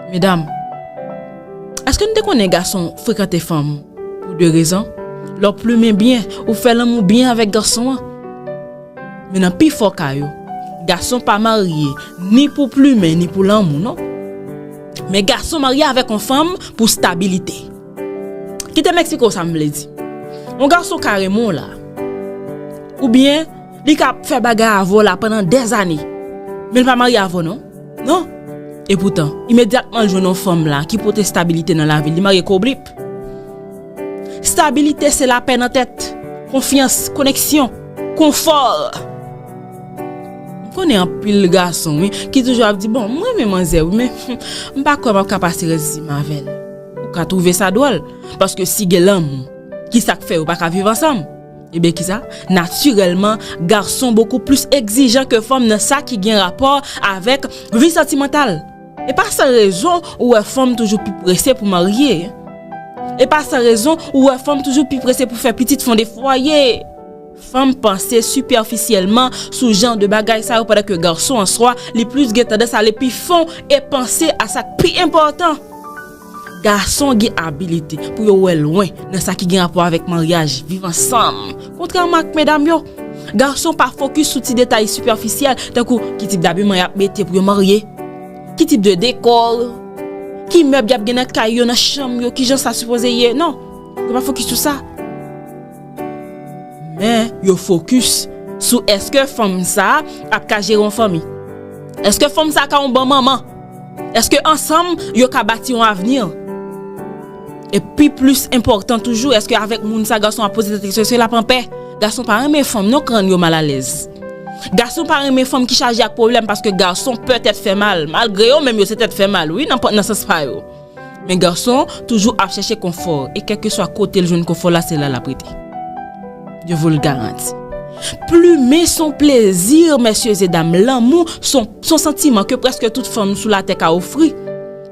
Medam, èske nou te konnen gason frekante fanm pou de rezon? Lè w plumen byen, ou fè lanmou byen avèk gason an. Men nan pi fò ka yo, gason pa marye ni pou plumen ni pou lanmou non. Men gason marye avèk yon fanm pou stabilite. Kite m eksplike w sa m vle di. Yon gason ka renmen w la, oubyen. Li ka ap fè bagay avè w la pandan dèzane, men li pa marye avè w non. Non. Epoutan, imedyatman l jwenn yon fanm la ki pote stabilite nan lavi l, li marye kou blip. Stabilite se lapè nan tèt, konfyans, koneksyon, konfò. M konnen anpil gason wi ki toujou ap di bon m renmen manzè wi men m pa kwè m ap ka pase rès vi m avè l. Ou ka twouve sa dwòl paske si gen lanmou kisa k fè yo pa ka viv ansanm? Ebyen kisa? Natirèlman, gason bokou plis egzijan ke fanm nan sa ki gen rapò avèk vi santimantal. E pa san rezon ou wè fanm toujou pi prese pou marye. E pa san rezon ou wè fanm toujou pi prese pou fè pitit, fonde fwaye. Fanm panse sipèfisyèlman sou jan de bagay sa yo pandan ke gason an swa li plis gen tandans ale pi fon e panse a sa k pi enpòtan. Gason gen abilite pou yo wè lwen nan sa ki gen rapò avèk maryaj, viv ansanm. Kontrèman ak medam yo, gason pa fokis sou ti detay sipèfisyèl tankou ki tip dabiman y ap mete pou yo marye, ki tip de deko, ki mèb y ap gen nan kay yo, nan chanm yo, ki jan sa sipoze ye. Non, yo pa fokis sou sa. Men, yo fokis sou èske fanm sa a ap ka jere yon fanmi? Èske fanm sa a ka yon bon manman? Èske ansanm yo ka bati yon avni? E pi plis enpòtan toujou, èske avèk moun sa a gason an ap poze tèt li kesyon, èske l ap anpè? Gason pa renmen fanm non, kran yo malalèz. Gason pa renmen fanm ki chaje ak pwoblèm paske gason pè tèt fè mal. Malgre yo menm yo se tèt fè mal wi nan sans pa yo. Men gason toujou ap chèche konfò e kèlkeswa kote l jwenn konfò la se la l ap rete. Yo vo l garanti. Plumen s on plezi mèsyezedam, lanmou s on s on santiman ke prèske tout fanm sou latè ka ofri.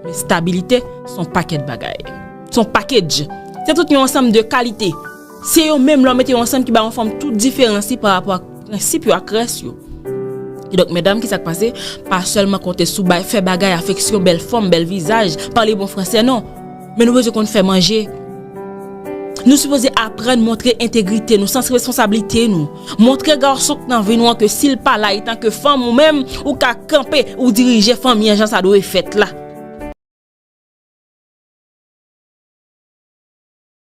Men stabilite s on pakèt bagay. S on pakedj. Se tout yon ansanm de kalite. Se yo menm lè w mete yo ansanm ki ba yon fanm tout diferans li pa rapò ak prensip yo ak rès yo. Kidonk medam ki sa k pase, pa sèlman konte sou bay, fè bagay, afeksyon, bèl fòm, bèl vizaj, pale bon fransè non. Men nou bezwen konn fè manje. Nou sipoze aprann montre entegrite nou, sans responsablite nou. Montre gason k nan vi nou an ke si l pa la etanke fanm ou menm ou ka kanpe ou dirije fanmi an jan sa dwe fèt la.